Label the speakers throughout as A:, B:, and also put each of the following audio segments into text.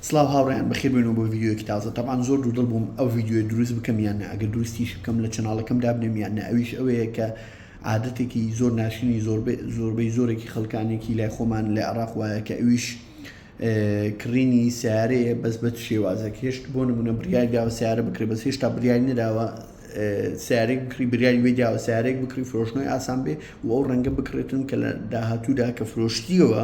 A: سڵاو هاوڕێیان بەخێر بێنەوە بۆ ڤیدیۆیەکی تازە تەبان زۆر دوودڵ بووم ئەو ڤیدیۆ دروست بکەم یان نە ئەگەر دروستیش بکەم لە چناڵەکەم دابنێم یان نە ئەویش ئەوەیە کە عادەتێکی زۆر ناشرینی زۆربەی زۆرێکی خەڵکانێکی لای خۆمان لە عراق وایە کە ئەویش کڕینی سیارەیە بەس بە شێوازە هێشت بۆ نمونە بریای داوە سیارە بکرێ بەس هێشتا بریای نراوە سیارێک بکری بریاری وێ داوە سیارێک بکری فرۆشنەوەی ئاسان بێ و ئەو ڕەنگە بکرێتن کە لە داهاتوودا کە فرۆشتیەوە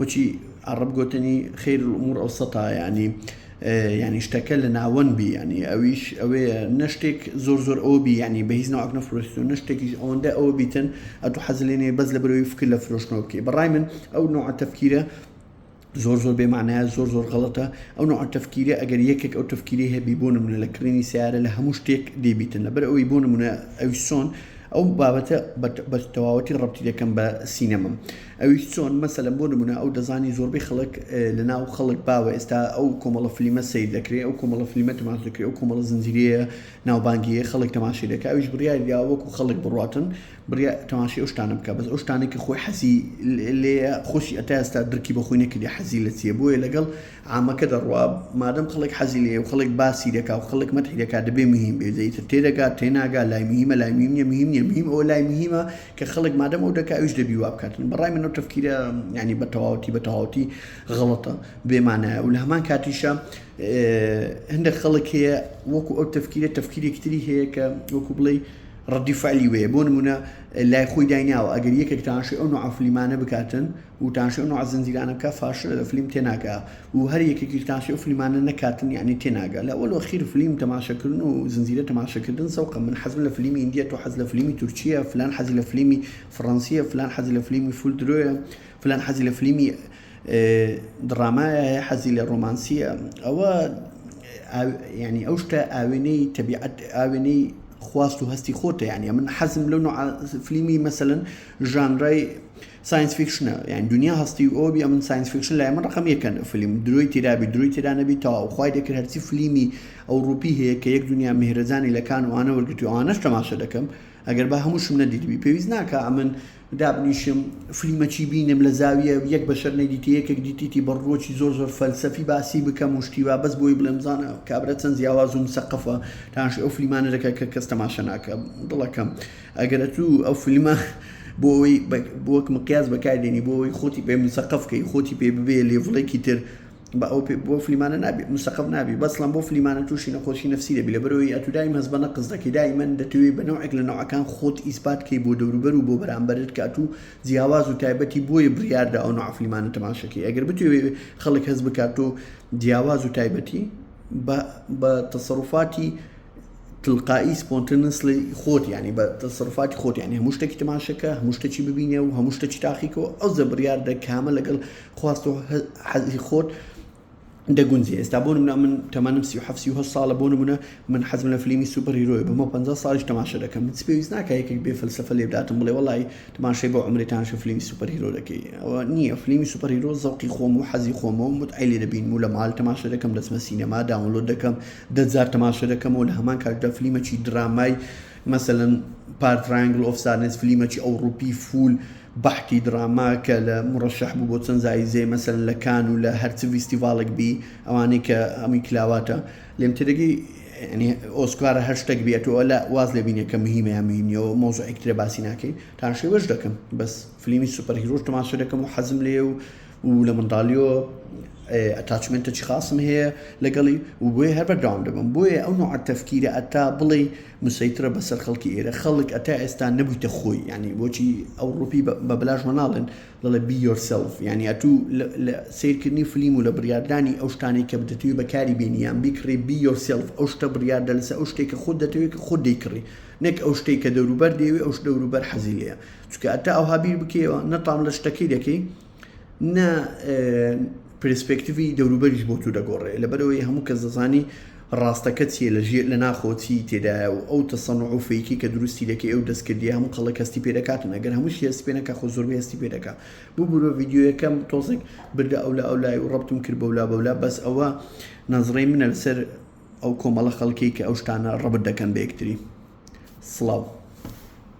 A: وەکی عەڕەب گۆتنی خیر الامور اوسطها یانی یانی شتەکە لە ناوەند بی یانی ئەویش ئەوەیە نە شتێک زۆر زۆر ئەو بی یانی بە هیچ ناوەک نەفرۆشیتەوە نە شتێکیش ئەوەندە ئەوە بیتن ئەتوو حەز لێ نەیە بەس لە برەوەی فکر لە فرۆشتنەوە بکەی بەڕای من ئەو نوع تەفکیرە زۆر زۆر بێمانایە زۆر زۆر غەڵەتە ئەو نوع تەفکیرە ئەگەر یەکێک ئەو تەفکیری هەبی بۆ نمونە لە کڕینی سیارە لە هەموو شتێک دەیبیتن لەبەر ئەوی بۆ نمونە ئەویسۆن ئەو بابەتە بە تەواوەتی ڕەبتی دەکەم بە سینەمەم ئەویش چۆن؟ مەسەلەن بۆ نمونە ئەو دەزانی زۆربەی خەڵک لە ناو خەڵک باوە ئێستا ئەو کۆمەڵە فلیمە سەیر دەکرێ ئەو کۆمەڵە فلیمە تەماش دەکرێ ئەو کۆمەڵە زنجیرەیە ناوبانگیە خەڵک تەماشی دەکا ئەویش بڕیاری دا وەکو خەڵک بڕاتن بریا تەماشی ئەو شتانە بکە بەس ئەو شتانە کە خۆی حەزی لێیە خۆشی ئەتا ئێستا درکی بە خۆی نەکردی حەزی لە چیە بۆیە لەگەڵ عامەکە دەڕوا مادەم خەڵک حەزی لێ و خەڵک باسی دەکا و خەڵک مەتحی دەکا دەبێ مهم بێ جەی تر تێدەگات تێناگا لای مهمە لای میم نیە میم نیە میم ئەوە لای مهمە کە خەڵک مادەم ئەو دەکا ئەویش دەبی وا بکات بە ڕای من ئەو تەفکیرە یعنی بە تەواوەتی بە تەواوەتی غەڵەتە بێمانایە و لە هەمان کاتیشە هەندێک خەڵک هەیە وەکو ئەو تەفکیرە تەفکیرێکتری هەیە کە وەکو بڵێ ڕدیفعلی وەیە بۆ نمونە لای خۆی دایناوە ئەگەر یەکێکتانش ئەو نوعافلیمانە بکاتن و تانشێو نوعە زنجیرانە بکا فاشلە لە فلیم تێناگا و هەر یەکێکیش تانشێو فلیمانە نەکاتن یانی تێناگا لە ئەوەل وەخیر فلیم تەماشەکردن و زنجیرە تەماشەکردن زەوقە من حەزم لە فلیمی هندیە تۆ حەز لە فلیمی تورکیە فلان حەزی لە فلیمی فڕەنسیە فلان حەزی لە فلیمی فول درۆیە فلان حەزی لە فلیمی دڕامایە هەیە حەزی لە ڕۆمانسیە ئەوە ینی ئەو شتە ئاوێنەی تەبیعەت ئاوێنەی خواست و هەستی خۆتە یانە من حەزم لەو فلیمی مەسەن ژانرای ساینس فیکشنە یان دنیا هەستی و ئەوە بی ئەمن ساینس فیکشن لای من ڕقم یەکەن فیلم درۆی تیرابی درۆی تیرانەبی تەواو خوای دەکرد هەرچی فلیمی ئەو ڕوپی هەیە کە یەک دنیا مهرەجانی لە کان وانە وەرگرت و ئەوانەش تەماشە دەکەم ئەگەر بە هەمووشم نەدیدبی پێویست ناکە ئەمن دابنیشم فلیمەکی بینم لە زاویە یەک بەشەر نەدیتی یەکێک دیتیتی بە ڕووەکی زۆر زۆر فەلسەفی باسی بکەم و شتیوا بەس بۆی بڵێم زانە کابرا چەند جیاواز و مسەقفە تاش ئەو فلیمانە دەکە کە کەس تەماشە ناکە دڵەکەم. ئەگەر ئەتوو ئەو فیلمە بۆ ئەوەی بۆک مقیاز بەکاردێنی بۆ ئەوەی خۆتی پێ مسەقف کەی خۆتی پێ ببێ لێڤڵێکی تر بە ئەو بۆ فلیمانە نابی مسەقف نابی بەسڵم بۆ فلیمانە تووشی نەخۆشی نفسی دەبی لە بەرەوەی ئەتو دایم هەز بە نەقز دەکەی دای من دەتوێت بە نەوەک لە نەوەکان خۆت ئیسپات کەی بۆ دەوروبەر و بۆ بەرامبەرت کە ئەتو جیاواز و تایبەتی بۆیە بڕیاردە ئەو نوع فلیمانە تەماشەکەی ئەگەر بتوێت خەڵک هەز بکات و جیاواز و تایبەتی بە تەسەڕفاتی تلقائی سپۆنتنس لی خۆت یعنی بە تەسەڕفاتی خۆت یعنی هەموو شتێکی تماشەکە هەموو شتێکی ببینێ و هەموو شتێکی تاقیکەوە ئەو زە بڕیاردە کامە لەگەڵ خواست و حەزی خۆت دەگونجێ ئێستا بۆ منە من تەمەنم سی حفسی هە ساڵە بۆ منە من حەزم لە فلیمی سوپەریرۆی بەمە پ ساڵش تەماشە دەکەم من پێویست ناکە یەکێک بێ فلسفە لێ بداتم بڵێ وڵی تماشای بۆ ئەمریکانش فلیمی سوپەرهیرۆ دەکەی ئەوە نییە فلیمی سوپەرهیرۆ زەڵقی خۆم و حەزی خۆمە و متعلی دەبین و لە مال تەماشە دەکەم دەچمە سینەما داونلۆ دەکەم دە جار تەماشە دەکەمەوە لە هەمان کاتدا فلیمەکی درامای مەسەلەن پار ترایەنگل ئۆف سادنس فلیمەکی ئەوڕوپی فول بەحتی دراما کە لە مڕەشەح بوو بۆ چەند زایزەیە مەسەلەن لە کان و لە هەرچ ڤیستیڤاڵێک بی ئەوانەی کە ئەمی کلاواتە لێم تێدەگەی ینی ئۆسکارە هەر شتێک بێت و لە واز لە بینێکە مهمە یا مهمیەوە مۆزە ئەکترە باسی ناکەین تاشێوەش دەکەم بەس فلیمی سوپەر هیرۆش تەماشە دەکەم و حەزم لێ و و لە منداڵیەوە ئەتاچمێنتەکی خاصم هەیە لەگەڵی و بۆیە هەر بەردەوام دەبم بۆیە ئەو نوع تەفکیرە ئەتا بڵێ مسەیترە بەسەر خەڵکی ئێرە خەڵک ئەتا ئێستا نەبوویتە خۆی ینی بۆچی ئەو ڕوپی بە بلاش وەناڵێن دەڵێ بی یۆرسلف ینی ئەتو لە سیرکردنی فلیم و لە بڕاردانی ئەو شتانەی کە بدەتوی بەکاری بینیان بیکڕی بی یۆرسلف ئەو شتە بڕاردە لەسە ئەو شتێکە خۆت دەتەوێت کە خۆت دەیکڕی نەک ئەو شتێک کە دەوروبەر دەیەوێ ئەو شت دەوروبەر حەزی لەیە چونکە ئەتا ئەوها بیر بکەیەوە نە تام لە شتەکەی دەکەی نە پرسپێکتیوی دەوروبەریش بۆ تو دەگۆڕێ لەبەرەوەی هەموو کەس دەزانی ڕاستەکە چیە لە ژێر لە ناخۆچی تێدایە و ئەو تەسەن و فەیکی کە دروستی دەکەی ئەو دەستکردی هەموو خەڵک هەستی پێ دەکاتن ئەگەر هەموو هێستی پێ نەکە خۆ زۆر هێستی پێ دەکە بوو بوو ڤیددیوەکەم تۆزێک بردە ئەو لە ئەو لای و ڕبتم کرد بەولا بەولا بەس ئەوە نەزڕی منە لەسەر ئەو کۆمەڵە خەڵکی کە ئەو شتانە ڕبت دەکەن بە یەکتری سڵاو